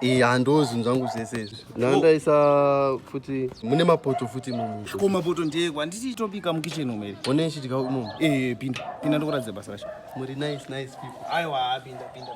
iya ndo zvinhu zvangu zvese izvi nandaisa futi mune mapoto futi ko mapoto ndeekwa handiti itobika mukitchen umeri one ichidya imomo pinda pinda ndokuratidza basa racho muri nice nice people aiwa pinda pinda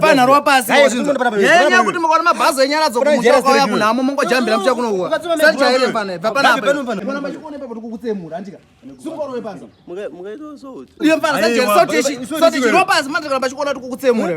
panharwa pasi yenya kuti mukaona mabhazi enyara dzokumusha kwauya kunhamo mongojambira mucha kunouwa sati chaire pana bva panapaoachiona kuti kukutsemura